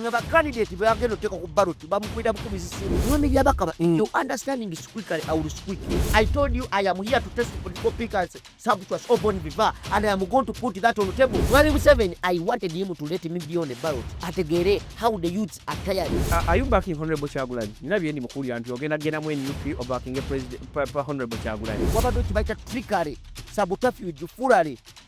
nga ba candidate bagenda oteka ku ballot bamukwira bukumi zisimu mwami byabakaba mm. you understanding is quickly i will speak i told you i am here to test political pickers sabuchwas obon viva and i am going to put that on the table mwami museveni i wanted him to let me be on the ballot ategere how the youths are tired uh, are you backing honorable chagulanyi nina byendi mukulira nti ogenda genda mu nup obacking president honorable chagulanyi wabadde okibaita trickery sabotafuge furary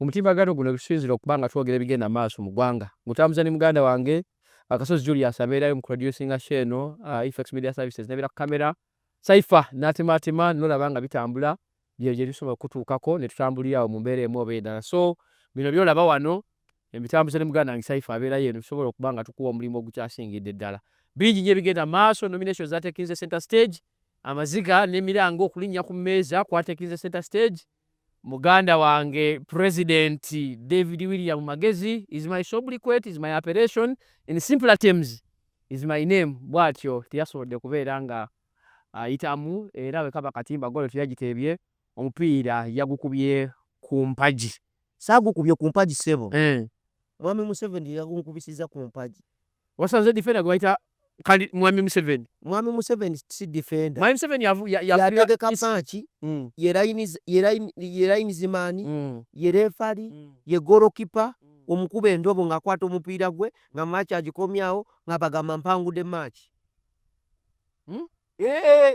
Omutimbagano guno gusinzira okuba nga twogera ebigenda maaso mu ggwanga. Ngutambuza ne muganda wange Akasozi Julius abeerayo mu kuproducinga show eno, Effects Media Services n'ebeera ku kkamera, Cypher n'atemaatema n'olaba nga bitambula, bye gye tusobola okukutuukako ne tutambulira awo mu mbeera emu oba endala. So bino by'olaba wano mbitambuza ne muganda wange Cypher abeerayo eno tusobola okuba nga tukuwa omulimu ogukyasingidde ddala. Bingi nnyo ebigenda mu maaso, nominations zateekinze centre stage, amaziga n'emiranga okulinnya ku mmeeza kwateekinze centre stage, Muganda wange president David William Magezi is my sobriquet is my appellation in simpler terms is my name bwatyo teyasobodde kubeera nga ayitamu era wekaba katimba golo teyagiteebye omupiira yagukubye ku mpagi. Saagukubye ku mpagi ssebo. Mwami Museveni ye yagunkubisizza ku mpagi. Wasanze defender gwe bayita kandi mwami Museveni. Mwami Museveni si defender. Mwami Museveni yavu ya ya yategeka match mm. ye lines ye line ye lines man mm. ye referee mm. ye goalkeeper mm. omukuba endobo nga kwata omupiira gwe nga match agikomyawo nga bagamba mpangude match. Mm? Eh.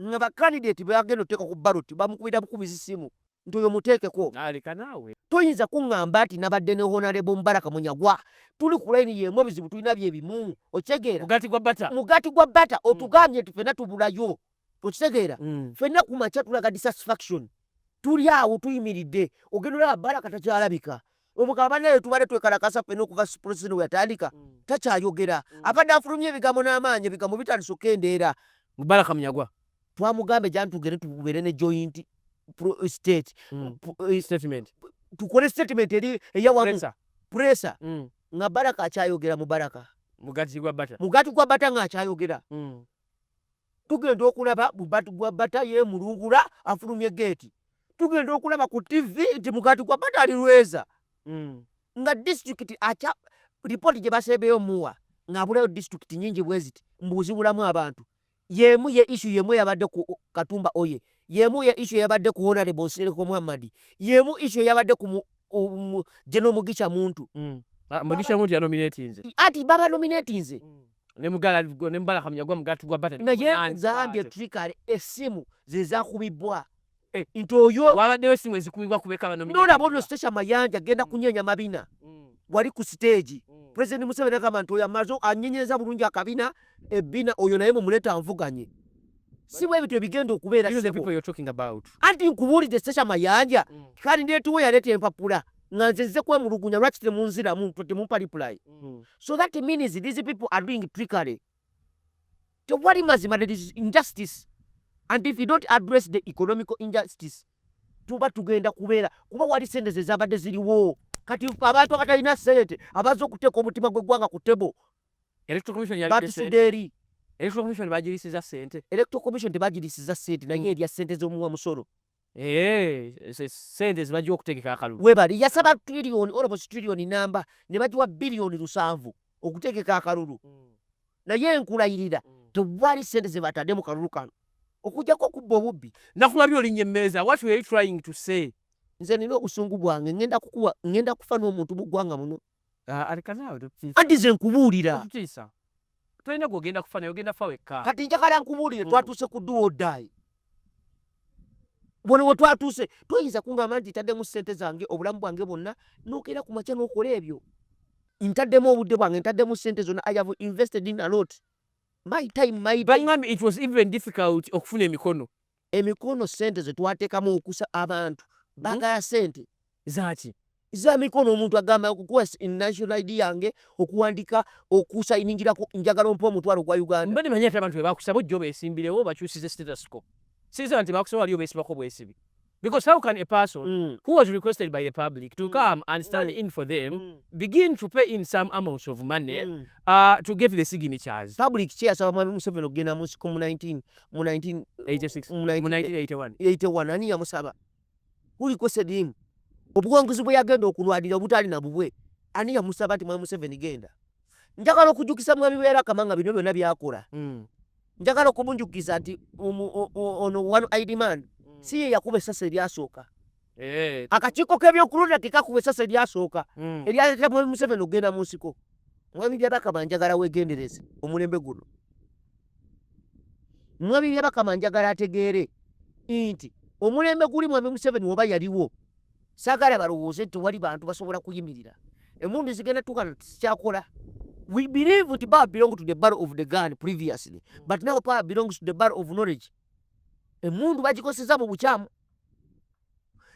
nga ba candidate beagenda oteeka ku ballot bamukubira bukubizi simu nti oyo muteekeko. Toyinza kungamba nti nabadde ne Honorable Mubaraka Munyagwa tuli ku line yemu ebizibu tulina bye bimu okitegeera. Mugati gwa bata. Mugati gwa bata mm. otugambye nti fena tubulayo okitegeera. Mm. Fena ku makya tulaga dissatisfaction tuli awo tuyimiridde ogenda olaba Baraka takyalabika Omugabo banaye tubadde twekalakasa ffena okuva Springsteen weyatandika takyayogera. Abadde afulumya ebigambo n'amaanyi, ebigambo bitandise okukendeera. Baraka Munyagwa twamugambye gy'ani tugende tubeere ne joint state statement, tukole statement eri eyawamu pressure nga Baraka akyayogera mu Baraka, mugati gwa bata, mugati gwa bata nga akyayogera. tugenda okulaba mugati gwa bata yemulungula afulumye geeti tugenda okulaba ku ttivi nti mugati gwa bata ali lweza mm. nga disitulikiti akya lipooti gye basembeyo muwa ng'abulayo disitulikiti nyingi bwe ziti mbuuzibulamu abantu yeemu ye isu yeemu eyabadde ku katumba oye yeemu ye isu eyabadde ku honarebo nsereko muhammadi yeemu isu eyabadde ku geno mugisha muntu mm. ah, mugisha muntu yanominatinze ati baba nominatinze mm. nemugala ne mubala kamya gwa mugati gwa bata naye nzambye trikale esimu zezakubibwa eh. nti oyo wabaddewo esimu ezikubibwa kubeka bano nolaba ono stasha mayanja genda mm. kunyenya mabina mm. wali ku siteegi mm. pulezidenti museveni agamba nti oyo amaze anyenyeza bulungi akabina ebbina oyo naye mumuleeta anvuganye si bwe ebintu ebigenda okubeera anti nkubuulidde stasha mayanja kale ndeetuwo yaleeta empapula nga nze nze kwemulugunya lwaki temunziramu ntwe temumpa reply mm. so that means these people are doing trickery tewali mazima there is injustice and if you don't address the economical injustice tuba tugenda kubeera kuba wali sente ze zabadde ziriwo kati abantu abatalina sente abaza okuteeka omutima gw'eggwanga ku tebo batusudde eri electoral commission bagirisiza sente electoral commission tebagirisiza sente naye erya sente z'omuwa musolo Eh, eh, sente zibajja okutegeka akalulu webali yasaba trillioni olobosi trillioni namba ne bagiwa biliyoni lusanvu okutegeka akalulu hmm. naye nkulayirira hmm. tewali sente zebatadde mu kalulu kano okujjako okubba obubbi nakulabye olinya emmeeza what were you trying to say nze nina obusungu bwange ngenda kukuwa ngenda kufa n'omuntu mu ggwanga muno anti nze nkubuulira tolina gwogenda kufa naye ogenda fa wekka kati njagala nkubuulire mm. twatuuse ku duwa odaayi bona we twatuuse toyinza kungamba nti ntaddemu ssente zange obulamu bwange bwonna nokeera ku makya nokola ebyo ntaddemu obudde bwange ntaddemu ssente zonna i have invested in a lot my time my time. it was even difficult okufuna emikono Emikono ssente ze twateekamu okusa abantu baagala ssente. Zaaki? Za mikono omuntu agamba okukuwa national ID yange okuwandiika okusayiningirako njagala ompa omutwalo gwa Uganda. Mbadde manyi ate abantu be bakusaba ojja obeesimbirewo bakyusize status quo. Sirisa nti bakusaba wali obeesibako bwesibi. Because how can a person mm. who was requested by the public to mm. come and stand mm. in for them mm. begin to pay in some amounts of money mm. uh, to get the signatures? Public chair saba mwami Museveni okugenda mu nsiko mu 19 mu 1981 ani yamusaba kuliko sedimu obuwanguzi bwe yagenda okulwanira obutaali na bubwe ani yamusaba nti mwami museveni genda njagala okujukisa mwami beera kama nga bino byonna byakola hmm. njagala okumunjukiza nti ono one id man hmm. si ye yakuba esasa eryasooka Eh. Akakiiko k'ebyokulonda ke kakuba esasa eryasooka hmm. eryaleetera Mwami Museveni okugenda mu nsiko. Mwami Byabakama njagala weegendereze omulembe guno. Mwami Byabakama njagala ategeere nti omulembe guli Mwami Museveni oba yaliwo saagala balowooze nti wali bantu basobola kuyimirira emundu zigenda tukana tikyakola we believe nti ba belong to the bar of the gun previously but now power belongs to the bar of knowledge emundu bagikozeseza mu bukyamu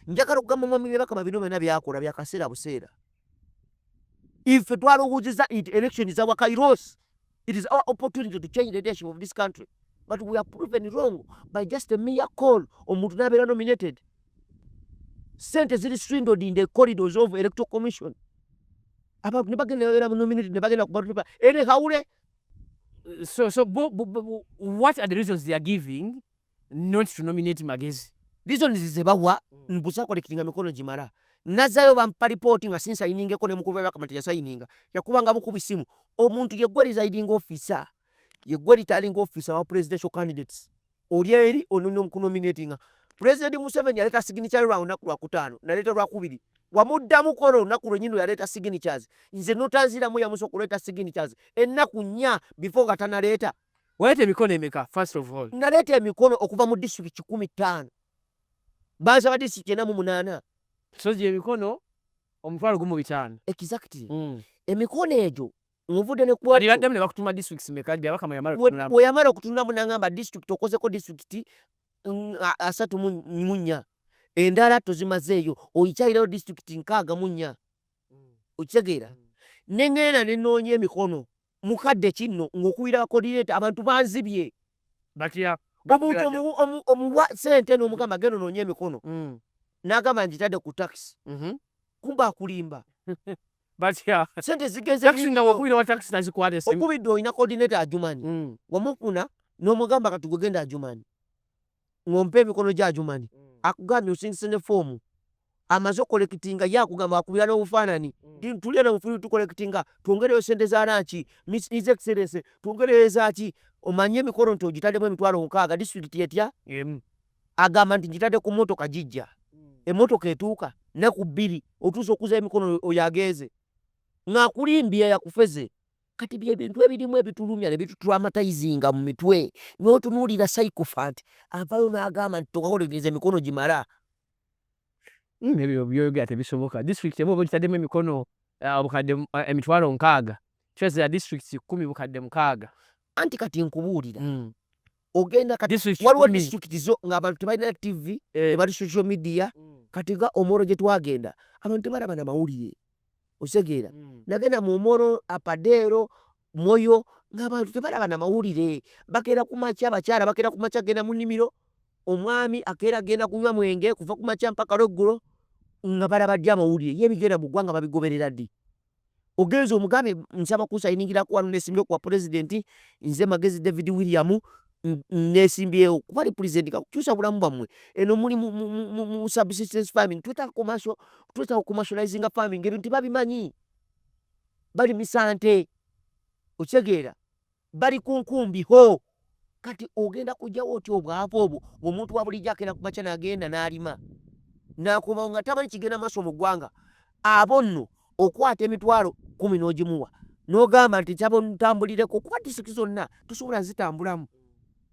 njagala okugamba mwami byebakama bino byona byakola byakaseera buseera ife twalowooziza nti election za wakairos it is our opportunity to change the leadership of this country but we are proven wrong by just a mere call omuntu nabeera nominated sente ziri swindled in the corridors of electoral commission abantu nebagenda era nominated nebagenda kubatupa ere hawule so so what are the reasons they are giving not to nominate magezi reasons zebawa mbusa collectinga mikono gimala nazayo bampa report nga sinsayiningeko ne mukulu wa bakamati yasayininga yakubanga bukubi simu omuntu yegwe residing officer yegwe returning officer wa presidential candidates oli eri ononya omukunominatinga president museveni yaleta signature lwa lunaku lwakutaano naleta lwakubiri wamuddamu kola olunaku lwenyini lweyaleeta signatures nze notanziramu yamusa okuleeta signatures ennaku nnya before nga tanaleeta Waleeta emikono emeka first of all? Naleeta emikono okuva mu district kikumi ttaano baaza ba district ena mu munaana so gye emikono omutwalo gumu bitaano exactly mm. emikono egyo nvudde ne kuwalibaddemu ne bakutuma districts meka gye abakama yamala okutunulamu bwe yamala okutunulamu nangamba district okozeko district mm, asatu mu nnya endala tozimazeeyo oyikyalirayo district nkaaga mu nnya mm. okitegeera mm. ne ŋŋenda ne noonya emikono mukadde kinno ng'okuwira bakoodineeta abantu banzibye. Batya? Omuntu omuwa sente n'omugamba genda onoonye emikono mm. n'agamba ngitadde ku takisi mm-hmm. kumba akulimba. Batya? Sente zigenze takisi nga wakuwira wa takisi nazikwata esimu. Okubidde olina koodineeta ajumanyi mm. wamufuna n'omugamba kati gwe genda ajumanyi. ng'ompa emikono gye Ajuman akugambye osindise ne foomu amaze okukolekitinga ye akugamba akubira n'obufaananyi mm. tulya na bufuli tukolekitinga twongereyo sente za lanki his excellence twongereyo ezaaki omanye emikolo nti ogitaddemu emitwalo mukaaga disitulikiti etya emu agamba nti ngitadde ku mmotoka gijja mm. emmotoka etuuka naku bbiri otuusa okuza emikono oyo agenze ng'akulimbye yakufeze kati bye bintu ebirimu ebitulumya ne bitutraumatizinga mu mitwe n'otunuulira psychophant avayo n'agamba nti tokakolegereza emikono gimala hmm, ebyo byoyogera tebisoboka district emu oba ogitaddemu emikono eh, obukadde eh, emitwalo nkaaga kyozira district kumi bukadde mukaaga anti kati nkubuulira hmm. ogenda kati waliwo disitulikiti zo ng'abantu tebalina tv eh. tebali social media mm. kati nga omoro gye twagenda abantu tebalaba na mawulire osegeera mm. nagenda mu omoro apadeero moyo ng'abantu tebalaba na mawulire bakeera ku makya abakyala bakeera ku makya genda mu nnimiro omwami akeera agenda kunywa mwenge kuva ku makya mpaka lweggulo nga balaba ddi amawulire ye ebigenda mu ggwanga babigoberera ddi ogenze omugambe nsaba kusayiningira kuwa nesimbyewo kuwa pulezidenti nze magezi david william nesimbyewo kuba li pulezidenti kakukyusa bulamu bwammwe eno muli mu subsistence farming twetaaga kumaso twetaaga okumasulayizinga farming ebintu tebabimanyi bali misante okitegeera bali ku nkumbi hoo kati ogenda kujjawo otya obwavu obwo ngaomuntu wabulijjo akenda kumakya nagenda nalima nakomawo nga tamanyi kigenda maaso mu ggwanga abo nno okwata emitwalo kumi n'ogimuwa nogamba nti nsaba ntambulireko kuba disitulikiti zonna tosobola zitambulamu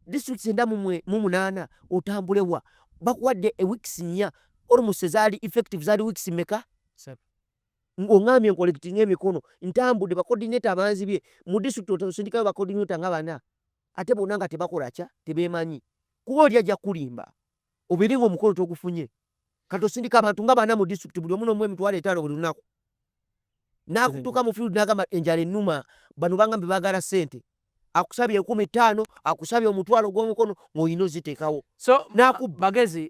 disitulikiti enda mu munaana otambulewa bakuwadde eweeks nnya olumusi zaali effective zaali weeks meka Ng'ongambye nkolekitinge emikono ntambudde bakodineta abanzibye mu disitulikiti osindikayo bakodineta nga bana ate bonna nga tebakola kya tebeemanyi kuba oli ajja kukulimba obeere ng'omukolo togufunye kati osindika abantu nga bana mu disitulikiti buli omu n'omu emitwalo etaano buli lunaku n'akutuuka mu field n'agamba enjala ennuma bano bangambye baagala ssente akusabye enkumi ttaano akusabye omutwalo gw'omukono ng'olina oziteekawo so n'akubba magezi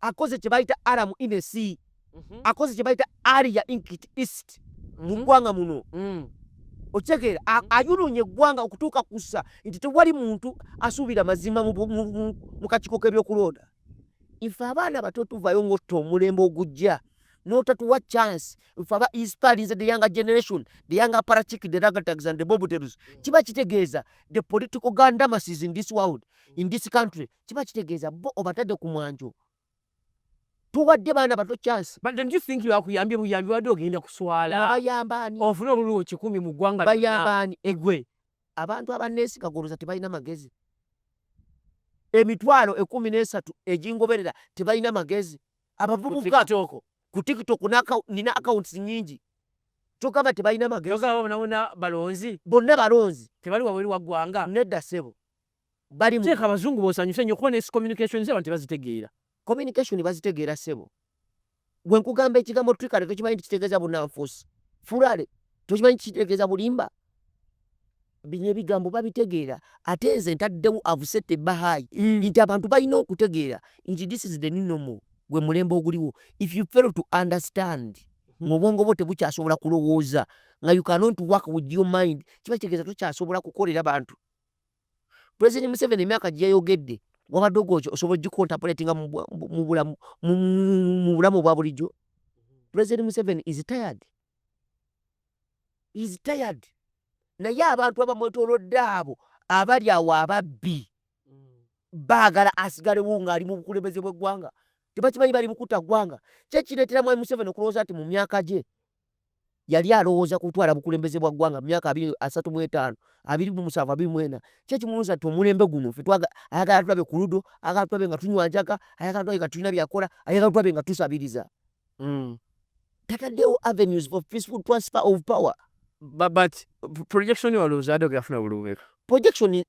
akoze kye bayita aramu inesi mhm. akoze kye bayita aria inkit east mu mhm. ggwanga muno mm. okitegeera mhm. ayulunye eggwanga okutuuka kussa nti tewali muntu asuubira mazima mu kakiiko k'ebyokulonda ife abaana bato tuvayo ng'otta omulembe ogujja n'otatuwa chance ife aba inspirinze the younger generation the younger parachik the ragatags and the bobuterus mm. kiba kitegeeza the political gandamasis in this world in this country kiba kitegeeza bo obatadde ku mwanjo tuwadde baana bato chance but don't you think yakuyambye buyambi wadde ogenda kuswala bayambaani ofuna obululu kikumi mu ggwanga bayambaani egwe abantu abaneesiga goloza tebalina magezi emitwalo ekumi n'esatu egingoberera tebalina magezi abavubuka ku tiktok nina accounts nyingi kyogamba tebalina magezi bonna balonzi tebali wabweru waggwanga nedda sebo balimu. Sheikh abazungu bonsanyuse nyo kuba nesi communication zeba tebazitegeera. Communication bazitegeera sebo. Gwe nkugamba ekigambo trickery tokimanyi nti kitegeeza bunanfuusi. Furale tokimanyi nti kitegeeza bulimba. Bino ebigambo babitegeera ate nze ntaddewo avusette bahayi mm. nti abantu balina okutegeera nti this is the new normal gwe mulembe oguliwo if you fail to understand mu obwongo bwo tebukyasobola kulowooza nga you cannot work with your mind kiba kitegeeza tokyasobola kukolera bantu President Museveni emyaka gye yayogedde wabadde ogwokyo osobola ogikontapuletinga mu bulamu obwa bulijjo. President Museveni is tired, is tired. Naye abantu abamwetolodde abo abali awo ababbi baagala asigalewo ng'ali mu bukulembeze bw'eggwanga. Tebakimanyi bali bukuta ggwanga. Kyekireetera Mwami Museveni okulowooza nti mu myaka gye Yali alowooza ku kutwala bukulembeze bwa ggwanga mu myaka abiri, asatu mu etaano, abiri mu musanvu, abiri mu ena. Kiki ekimulwooza nti omulembe guno ffe twaga, ayagala atulabe ku ludo, ayagala tulabe nga tunywa njaga, ayagala tulabe nga tulina byakola, ayagala tulabe nga tusabiriza. Mm. Tataddewo avenues for peaceful transfer of power. But, but projection walowooza adogera funa bulubumeka? Projection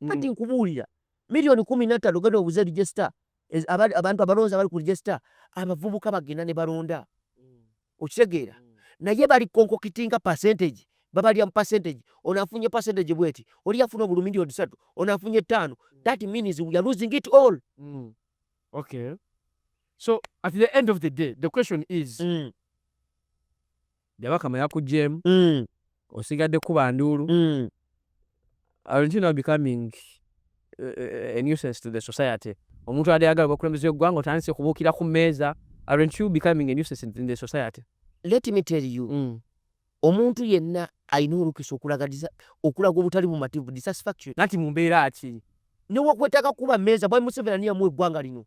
mm. kati nkubuulira miliyoni kumi nattano genda obuze register abantu abalonzi abali ku register abavubuka bagenda ne balonda mm. okitegeera mm. naye bali konkokitinga percentage babalya mu percentage ono afunye percentage bweti oli afuna obulu miliyoni satu ono afunye ttaano that means we are losing it all mm. okay so at the end of the day the question is mm. jabaka mwe yakujeemu mm. osigadde kuba nduulu mm. aren't you now becoming eh, eh, a nuisance to the society omuntu ade agala bakulembeza eggwanga otandise kubuukira ku mmeeza aren't you becoming a nuisance in the society let me tell you mm. omuntu yenna alina olukisa okulagadiza okulaga obutali bumativu dissatisfaction nati mu mbeera ki newakwetaka kuba mmeeza bwai museveni ani yamu eggwanga lino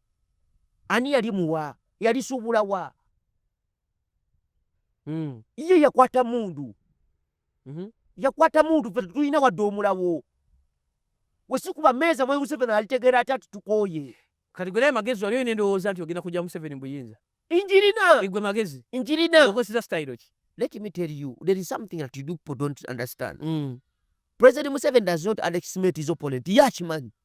ani yali muwa yalisuubula wa mm. iye yakwata mundu mm -hmm. yakwata mundu fe tulina wadde omulawo wesikuba meeza mwe museveni alitegeera ati ati tukooye kati gwerayo magezi waliyo nendowooza nti ogenda kujja museveni buyinza injirina igwe magezi injirina okosiza style ki let me tell you there is something that you do people don't understand mm. president museveni does not underestimate his opponent yakimanyi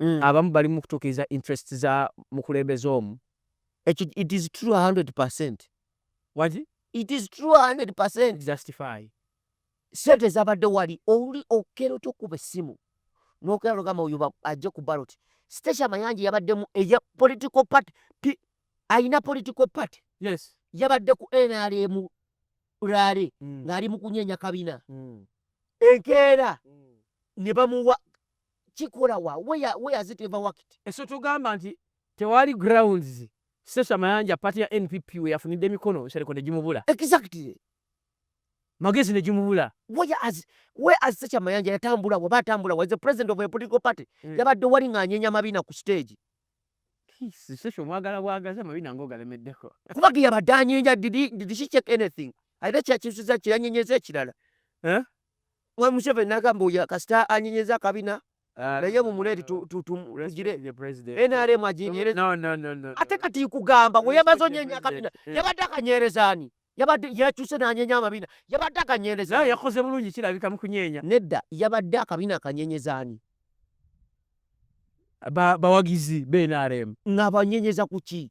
mm. abamu bali mu kutuukiriza interest za mukulembeze omu ekyo it is true 100 percent what it is true 100 percent justify sente zabadde wali oli okera otya okukuba essimu nokera nogamba oyo ajje ku baloti station mayanja yabaddemu eya political party alina political party yes yabadde ku nrm rale mm. ng'ali mu kunyenya kabina mm. enkeera mm. ne bamuwa kikola wa where where has it ever worked eso tugamba nti tewali grounds sesha mayanja party ya npp we yafunide mikono sereko ne jimubula exactly magezi ne jimubula where as where as sesha mayanja yatambula wa batambula was the president of a political party mm. yabadde wali nganyenya mabina ku stage sesha mwagala bwagaza mabina ngoga lemedeko kuba giya badanyenya did did she check anything aite kya kisuza kya nyenyeze kirala eh Mwe Museveni nagamba oyo kasita anyenyeza akabina ah, naye mumuleti tugire NRM aginyereza ate kati kugamba we yamaze onyenya akabina yabadde akanyereza ani yabadde yakyuse nanyenya amabina yabadde akanyereza yakoze bulungi kirabika mukunyenya nedda yabadde akabina akanyenyeza ani bawagizi ba NRM nga banyenyeza kuki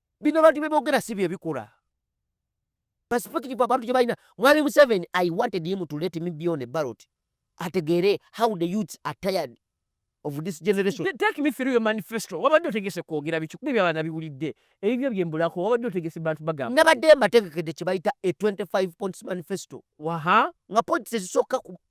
Bino abantu byebogera si byebikola. Perspective abantu gyebalina. Mwami Museveni, I wanted him to let me be on a ballot. Ategeere how the youths are tired of this generation. Take me through your manifesto. Wabadde otegese kwogera biki kuba ebyo abaana biwulidde. Ebibyo byembulako wabadde otegese bantu bagamba. Nabadde mbategekedde kye bayita a 25 points manifesto. Waha. Nga points ezisooka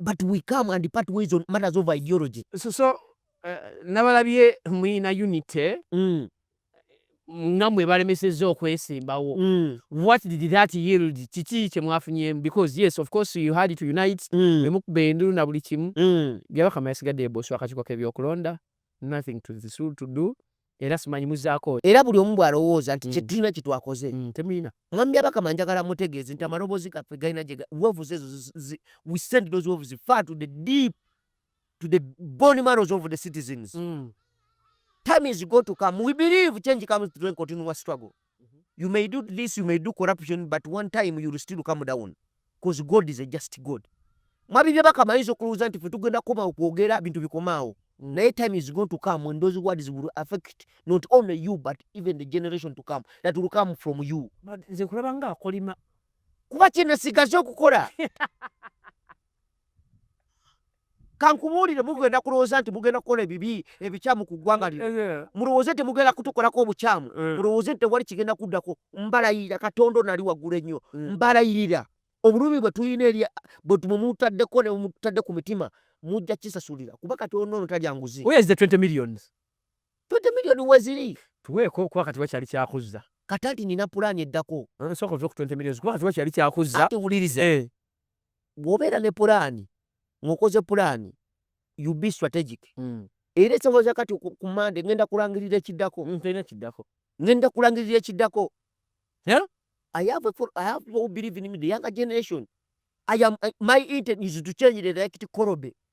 but we come and part ways on matters of ideology so, so uh, nabalabye muyina unity mm. nga mwe balemesezza okwesimbawo mm. what did that yield kiki kyemwafunyemu because yes of course you had to unite mm. emukuba endulu na buli kimu mm. byabakama yasigadde eboswa akakiiko kebyokulonda nothing to, to do era simanyi muzaako era buli omu bwalowooza nti mm. kyetulina kyetwakoze mm, temulina mwami abakama njagala mutegeeze nti amaloboozi gaffe galina gye wevuze ezo we send those wevuzi far to the deep to the bone marrows of the citizens mm. time is go to come we believe change comes through a continuous struggle You may do this, you may do corruption, but one time you will still come down. Because God is a just God. Mwabi bya baka maizo kuluza nti fetugenda koma okuogera bintu bikomao. Mm. Nae time is going to come when those words will affect not only you but even the generation to come that will come from you. Nze kulaba nga akolima. Kuba kina sigazo kukora. kankubuulire mugenda kulowooza nti mugenda kukola ebibi ebikyamu ku ggwanga lino eh, eh. mulowooze nti mugenda kutukolako obukyamu eh. mulowooze nti tewali kigenda kuddako mbalayirira katonda onali waggulu ennyo mbalayirira obulumi bwe tulina eri bwe mutaddeko ne mutadde ku mitima mujja kisasulira kuba katonda ono talya nguzi million weziri tuweeko kuba kati wakyali kyakuzza kati anti nina pulaani eddako nsooka ove ku 20 millions kuba kati wakyali kyakuzza ate wuliriza bwobeera ne pulaani ng'okoze pulaani you be strategic mm. era ekisoboza kati ku mande ngenda kulangirira ekiddako mm, ekiddako ngenda kulangirira ekiddako yeah? I have a, I have people who believe in me, the younger generation. I am, uh, my intent is to change the elect Korobe.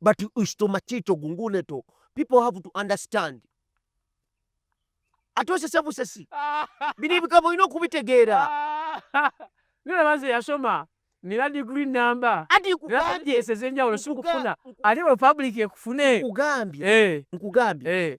but ishto machito gungune to people have to understand ate osese busesi bino ebigambo olina okubitegeera nina baze yasoma nina degree number najeesa ezenjawulo sikufuna ate republic ekufune nkugambye eh. nkugambye eh.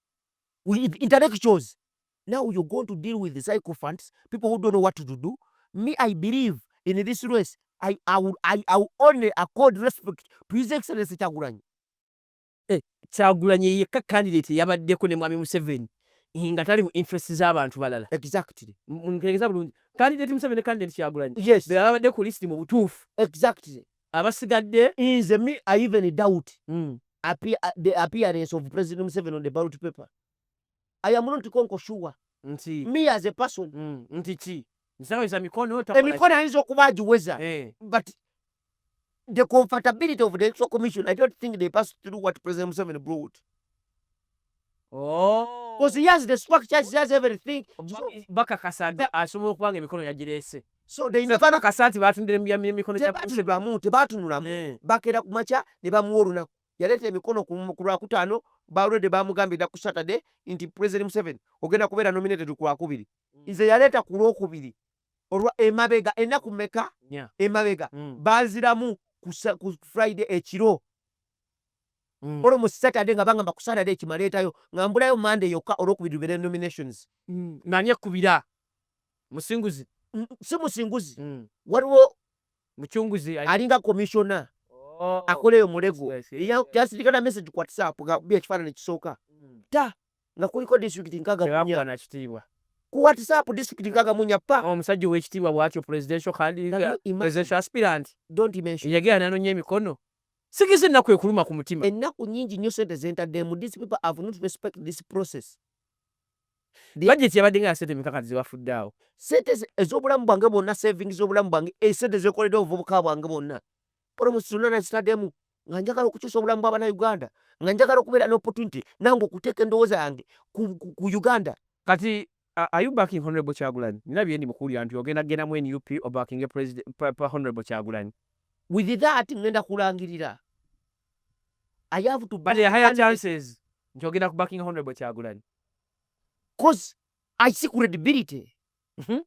with intellectuals now you're going to deal with the sycophants people who don't know what to do me i believe in this race i, I, will, I, I will only accord respect to his excellency kyagulanyi eh, kyagulanyi yekka candidate yabaddeko ne mwami museveni eh, nga tali mu interest z'abantu balala exactly ntegeza bulungi candidate museveni ne candidate kyagulanyi yes bebabadde ku list mu butuufu exactly abasigadde nze me I even doubt mm. appear, uh, the appearance of President Museveni on the ballot paper I am not konko sure nti me as a person mm. nti ki nsaweza mikono emikono ayinza okuba agiweza eh. but the comfortability of the electoral commission I don't think they pass through what President Museveni brought Oh. Because he has the structures, he has everything. So, bakakasa nti asobola okuba nga emikono yagireese so they never bakakasa nti baatundira emikono tebatunulamu tebatunulamu eh. bakeera ku makya ne bamuwa olunaku yaleeta emikono ku lwakutaano balwedde bamugambye dda ku saturday nti president museven ogenda kubeera nominated ku lwakubiri mm. nze yaleeta ku lwokubiri olwa emabega ennaku meka emabega mm. baziramu ku friday ekiro Mm. Olwo mu Saturday nga bangamba ku Saturday kimaleetayo nga mbulayo Monday yokka olwokubiri lubere nominations. Mm. Nani ekkubira? Musinguzi? Mm, si Musinguzi. Mm. Waliwo Mucunguzi alinga commissioner oh. akola eyo mulego yasindika na message ku WhatsApp nga bi ekifaananyi kisooka mm. ta nga kuliko district nkaga munya na kitiibwa ku WhatsApp district nkaga munya pa omusajja oh, w'ekitiibwa bwatyo presidential candidate presidential aspirant don't mention yagera nanonya emikono Sikiza ennaku ekuluma ku mutima. Ennaku nnyingi nnyo ssente ze ntaddeemu. These people have not respect this process. Bajeti yabadde nga ya ssente meka kati ze bafudde awo? Ssente ez'obulamu bwange bwonna, savings z'obulamu bwange, ssente ze nkoledde obuvubuka bwange bwonna, promise zonna nazitaddemu nga njagala okukyusa obulamu bw'Abannayuganda, nga njagala okubeera n'opportunity nange okuteeka endowooza yange ku Uganda. Kati Uh, are you backing Honorable Chagulanyi? Nina byendi mukulira nti ogenda genda mu NUP or backing a president pa, pa Honorable Chagulanyi. With that ngenda kulangirira. I have to back. But there are higher chances nti ogenda ku backing Honorable Chagulanyi. Cause I see credibility. Mm -hmm.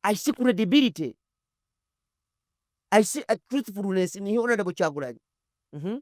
I see credibility. I see a truthfulness in Honorable Chagulanyi. Mm -hmm.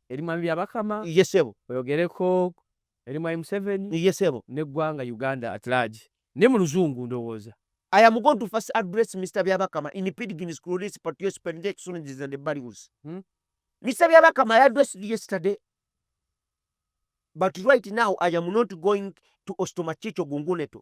Eri mwami Byabakama. Ye ssebo. Oyogereko eri mwami Museveni. Ye ssebo. N'eggwanga Uganda at large. Ne mu luzungu ndowooza. I am going to first address Mister Byabakama in Pidgin's Cloris Patios Pendex Sundays and Barrios. Hmm? Mister Byabakama I addressed you yesterday. But right now I am not going to Ostomachicho Gunguneto.